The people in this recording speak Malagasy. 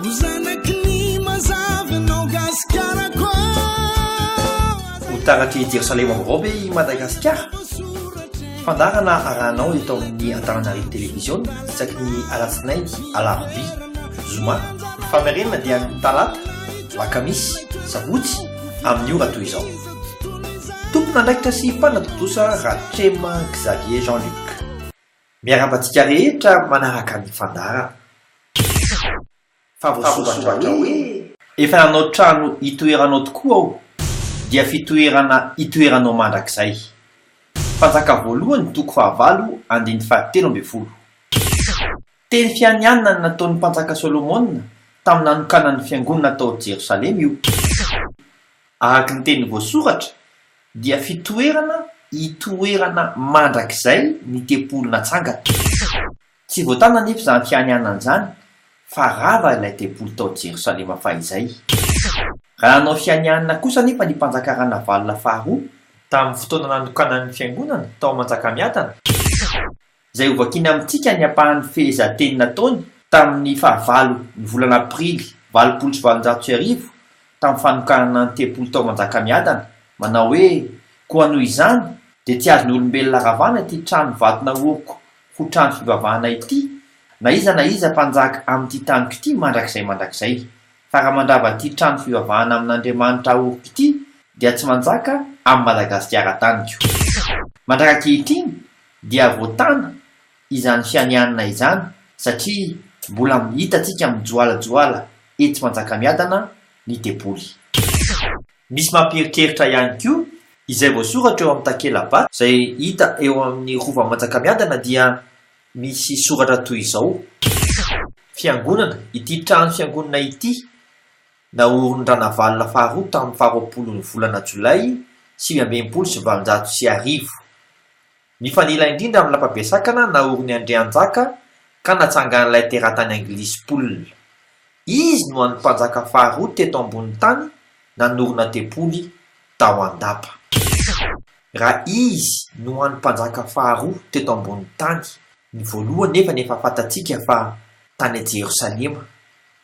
Ho zanaky ny mazava ianao Gasikarako ah. Ho taratry Jerosalema vaovao ve i Madagasikara? Fandaharana arahanao eto amin'ny Antananarivo Television isaky ny alatsinainy, alarobia, zoma. Famerenana dia ny talata, lakamisy, sabotsy amin'ny ora toy izao. Tompon'andraikitra sy mpanatontosa Ratrema Xavier Jean Luc. Miarahaba antsika rehetra manaraka ny fandaharana. Fa voasoratra hoe. Efa nanao trano hitoeranao tokoa aho, dia fitoerana hitoeranao mandrakizay. Mpanjaka voalohany toko fahavalo andininy fahatelo ambin'ny folo. Teny fianianana ny nataon'ny mpanjaka Solomona tamin'ny nanokanany ny fiangonana tao Jerosalema io. Araka ny teny voasoratra dia fitoerana itoerana mandrakizay ny tempoly natsangana. Tsy voatana anefa izany fianianana izany fa rava ilay tempoly tao Jerosalema fahizay. Raha nanao fianianana kosa anefa ny mpanjaka Ranavalona faharoa tamin'ny fotoana nanokanany ny fiangonana tao Manjakamiadana, izay hovakina amintsika ny ampahan'ny fehezanteny nataony tamin'ny fahavalo ny volana aprily valopolo sy valonjato sy arivo tamin'ny fanokanana ny tempoly tao Manjakamiadana, manao hoe, Koa noho izany, dia tsy azon'olombelona ravana ity trano vato naoriko ho trano fivavahana ity, na iza na iza mpanjaka amin'ity taniko ity mandrakizay mandrakizay, fa raha mandrava ity trano fivavahana amin'Andriamanitra aoriko ity, dia tsy manjaka amin'i Madagasikara taniko. Mandrak'ankehitriny, dia voatana izany fianianana izany satria mbola hitantsika mijoalajoala etsy Manjakamiadana ny deboly. Misy mampieritreritra ihany koa izay voasoratra eo amin'ny takela-ba izay hita eo amin'ny Rovan'i Manjakamiadana dia misy soratra toy izao. Fiangonana, ity trano fiangonana ity Naorin-dRanavalona faharoa tamin'ny faharoapolo ny volana jolay sivy amby enimpolo sy valonjato sy arivo. Nifanila indrindra amin'ny lapabesakana naorin'i Andrianjaka ka natsangan'ilay teratany anglisy mpolina. Izy no an'ny mpanjaka faharoa teto ambonin'ny tany nanorina tempoly tao Andapa. Ra izy no an'ny mpanjaka faharoa teto ambonin'ny tany. Ny voalohany nefa ny efa fantatsika fa tany Jerosalema